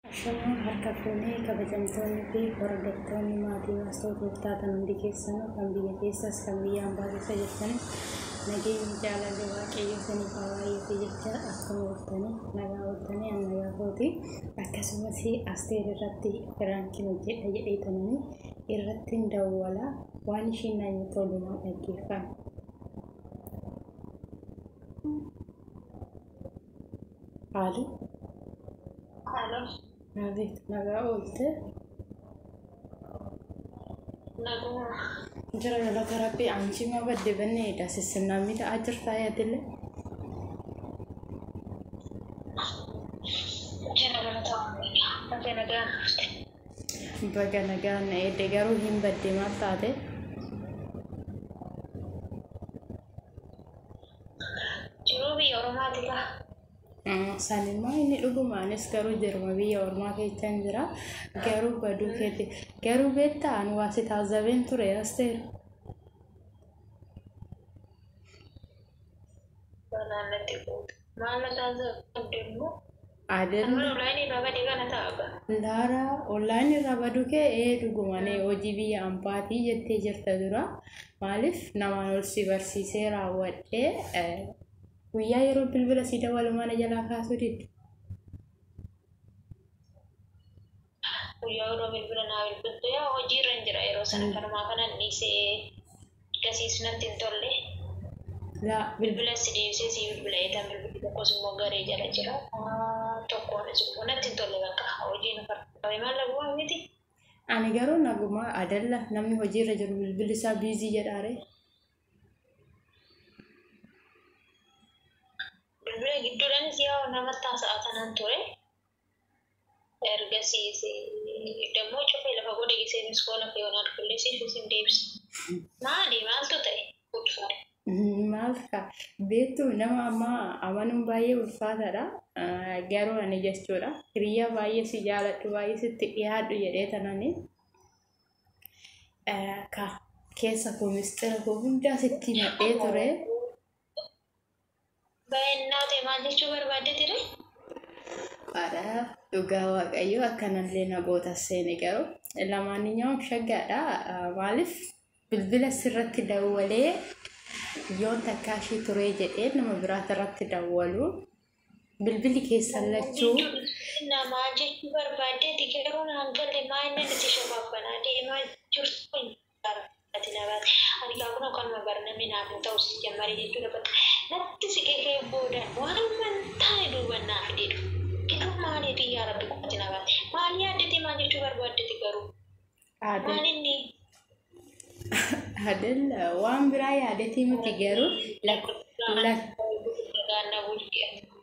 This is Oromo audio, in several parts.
Ashamaa harka fuunee kabajamtoonni fi hordoftoonni maatii Waastoo Gooftaa kan hundi keessanuu kan biyya keessas kan biyya ambaa keessa jirtanis nageenyi jaalalli waaqayyoo isiniif haa baay'atu jechaa akkuma ooltanii nagaa ooltanii an nagaa kooti akkasumas asteer irratti firaankiin hojjedha jedhee tananii irrattiin dawwala waan ishiin na jettu waliin dhaggeeffadha. Qaali. Haaloo. Abeet nagaa oolte. Nagaa. Jira galata rabbii aanchii maa badde banne edaa sissinnaa miidhaa jirtaa yaadille. Jira galata oolte. Ate nagaa dhufte. Baga nagaan na eedde garuu hin badde maal taate. Jiruu biyya Oromaati gaa. San immoo inni dhuguma anis garuu jiruma biyya ormaa keessa hin jira. Garuu baduu keeti. Garuu beektaa ani waa si taazabeen ture asteer. Banaan natti quuta. Maal na taasifamte immoo? Adel. Kan mana online irraa bade kana ta'a abba. Laara online irraa badu kee ee dhugumane hojii biyya ambaatii jettee jirta dura maaliif namaan ol si barsiisee raawwadhee eh, guyyaa yeroo bilbila si dawalu mana jalaa kaasuu didde. Guyyaa yeroo bilbila naa bilbiltu yaa hojii irra hin jira yeroo sana kanumaa kanan dhiisee gasiis natti hin tolle. Yaa bilbila si deebisee si bilbila eetan bilbilli tokkos immoo garee jala jira. Tokkoon immoo natti hin tolle bakka hojiin qabe maal dhabumaa miti. Ani garuu nagumaa adalla namni hojii irra jiru bilbilli isaa biizii jedhaare. Bilbila gidduudhaanis yaa namatti haasa'aa tanan ture. Ergasiis dammoo cufee lafa godhe gisee miskoona fi wanaad kulleesee fi isin deebise. Maali maaltu ta'e? Ulfaadha. Maal ta'a? Beektu nama amma amanuun baay'ee ulfaataadha. Ah, Garuu ani jechuudha. Hiriyaa baay'ee si jaaladhu, baay'ee sitti dhiyaadhu jedhee tanani. ah, Ka keessa koo mistira koo hundaa sitti himadhee ture. Baay'inaa ta'e maal jechuu barbaadde ture? Dhugaadha. Dhugaa waaqayyo akkanallee na goota seene garuu lamaaninyawam shaggaadha. Maaliif bilbila sirratti dawwalee yoon takkaa ishii turee jedhee nama biraata irratti dawwalu bilbilli keessan lachuu Namaa jechuu barbaadde ati garuu naan galle maa inni nuti shabaabbanaa deemaa jirtu. Ani kaa kunoo kanuma barname naaf hin ta'u si jammare jechuudha bakka natti siqee kee booda waanuman taane duuban naa fidee dhufe garuu maaliifi yaa rabbi qofati na baate maal yaaddete maal jechuu barbaaddete garuu Aadde maal inni Adella waan biraa yaadetii miti garuu lak lak Gaanna bulchee.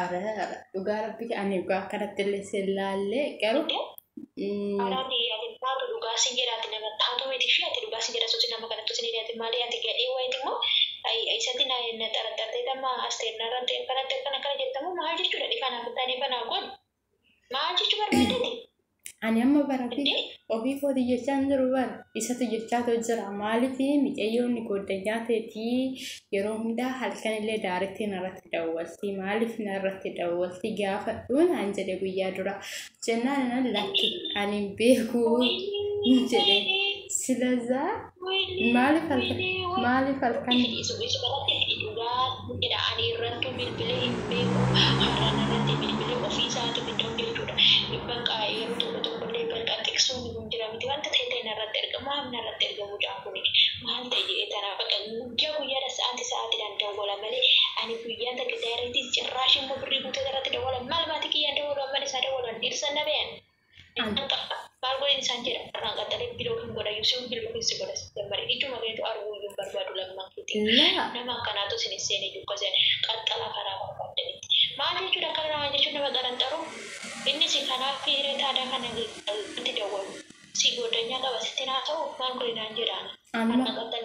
Ara dhugaa rabbi ani dhugaa akkanatti illee sin laallee garuu mm, Araati ati taatu dhugaa sin jedha ati nama taatu miti fi ati dhugaa sin jedha sosi nama kanattu sin jedha ati maali ati gadhee wayiti immoo ay isatti na na xaraxartee damma asteernarratti akkanatti akkana akkana jettamu maal jechuudha dhifa naaf taane banaa godhu Maal jechuu barbaadani? Ani amma bara ofii Indee? ofii kootii jechaa hin jiru bara isatu jechaa too jira maaliif micayyoon gooddanyaa teetii yeroo hundaa halkan illee daaritti narratti dawwaltii maaliif narratti dawwaltii gaafadhuu naan jedhe guyyaa dura jennaan inan lakki ani hin beekuu jedhe silazaa Maaliif halkan? Maaliif halkan? Isbalatti dhugaa jedha ani irrattu bilbile hin beeku har'an irratti bilbile ofii isaati biddoon jechuudha bakka yeroo tokko tokko illee bakka xiqsuun kun jira miti wanta ta'e ta'e narratti erga maaf narratti erga mucaan kun maal ta'e jedhee tana bakka guyyaa guyyaadha sa'aati sa'aatiidhaan dawwala malee ani guyyaa takka daayireetii cirraashii immoo birrii guutee irratti dawwala maal maatii kiyyaan dawwalu amman isaa dawwalan dhirsa na beeyan Dhiqata maal godhin isaan jedha irraan qaxxalee biloo hin godha yuusiin biloo hin si godha si jammare ijuma keetu arguu iyyuu hin barbaadu lamman keeti nama akkanaatu isin hin seene iyyuu akkasiin qaxxala karaa barbaadanitti maal jechuudha akkana nama jechuun nama xaranxaruu inni si kanaa fi hiree taadaa kana itti dawwalu si goddanyaa qaba sitti naa ta'u maal godhinaan jedhaan amma qaxxala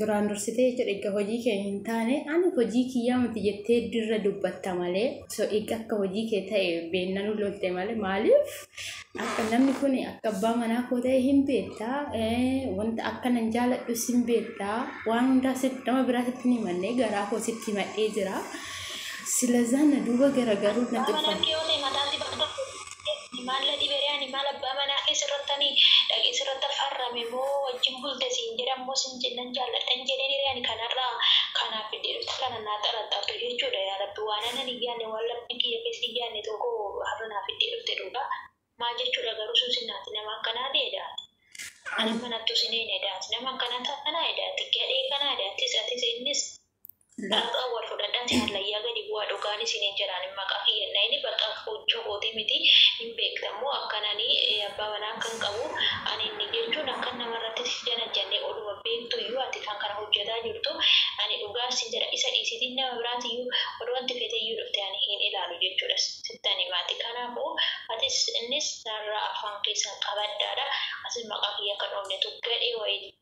Duraan dursitee jechuudha egaa hojii kee hin taane ani hojii kiyyaa miti jettee dirra dubbatta malee so egaa akka hojii kee ta'e beennanuu lolte malee maaliif akka namni kun akka abbaa manaa koo ta'e hin beektaa wanta akka nan jaaladhu sin beektaa waan hundaa nama biraa sitti hin himannee garaa koo sitti himadhee jira silazaa na duuba garagaruuf na tuffan. Maalla dhibere ani maal abbaa manaa kee sirrattani dhaqee sirratta farrame moo wajjin bulte siin jedhan moo sin nan jaalladha hin jedheen hiree ani kanarra kanaaf fiddee dhufte kana naa xaraxxartu jechuudha yaa rabbi waan anan hin yaanne waan lapheen kiyya keessa hin yaanne tokko har'a naa fiddee dhufte dhugaa maal jechuudha garuu suusin ati nama akkanaa ati edaa ati nama hin hattu sin eena edaa ati nama akkanaa taanaa edaa ati gadhee kanaa edaa atis atis innis Dhugaa wal fudhadha jaalla ya gadi bu'a dhugaan isinin jedhaan maqaa kiyya hin dhayini bakka fuucha kooti miti hin beektan moo akkan ani abbaa manaa akkan qabu ani inni jechuun akkan nama irratti si janajjanne oduma beektu iyyuu ati kan kana hojjataa jirtu ani dhugaa issin jedha isa dhiisiti nama biraati iyyuu odoo anti fete iyyuu dhufte ani hin ilaalu jechuudha sittan himaati kanaafu atis innis narraa afaan keessan qabadhaadha atis maqaa kiyya akka dhoofnetu gadhee wayiti.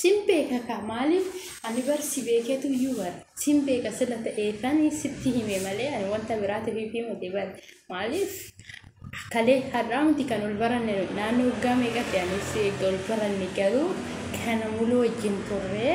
sin beeka kaa maaliif ani bar si beeketu iyyuu bar sin beeka sila ta'eefani sitti hime malee ani wanta biraatiif ifi miti bar maaliif kalee har'aa miti kan ol baranne nu naannoo waggaa meeqatti anis eegga ol baranne garuu kana muluu wajjin turree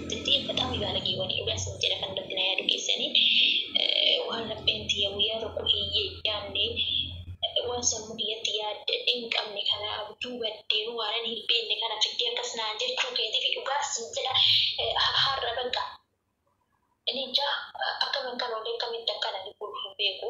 Ati batamu baalagee wani dhugaa sin jedha kan irratti na yaadu keessani waan rabbiin tiyya guyyaa tokko hin yaanne waan sammuu kiyyatti yaadde hin qabne kana abjuu baddeenu waanan hin beekne kana fiddee akkas naan jechuu keetiif dhugaa sin jedha har'a banqa. Ani jaa akkaman kan olee akkamitti akkana dhibuu hin beeku.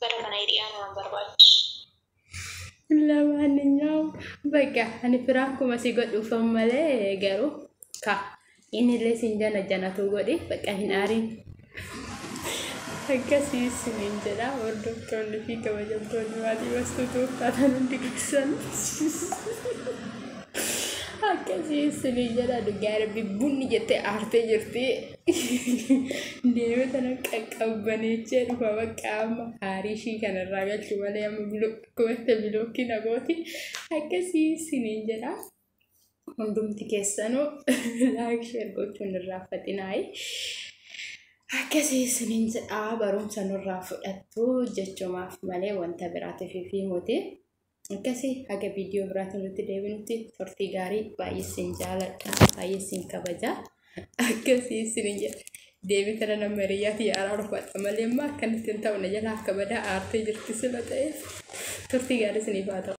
Bara kana hiriyaa nama barbaachisu. Lamaaninyaawu bakka ani firaankuma si godhuufan malee garuu ka inillee siin jana janatuu godhi bakka hin aariin. Akkasii isiniin jedha hordoftoonni fi kabajamtoonni maatii bastuu tuuftaatan hundi keessan. Akkasii isiniin jedha dhugaa rabbi bunni jettee aartee jirti. Deeme sana qaqqabbaneechee dhufa bakka amma haarii ishii kanarraa galchu malee amma akkuma bilookii nagooti akkasii isiniin jedha. Hundumti keessanuu laayik sheer gochuun irraa faxinaayi. Akkasii isiniin jedha barumsa nurraa fudhattu jechumaaf malee wanta biraatiif fi muti. Akkasi haga viidiyoo biraatiin nutti deebinutti turtii gaarii baay'ee isin jaaladha baay'ee isin kabaja akkasi isin jedha deebii kana nama hiriyyaa kiyya araarfadha malee immoo akkanatti hin ta'u na jalaa akka badaa aartee jirti sila ta'e turtii gaarii isiniif haa ta'u.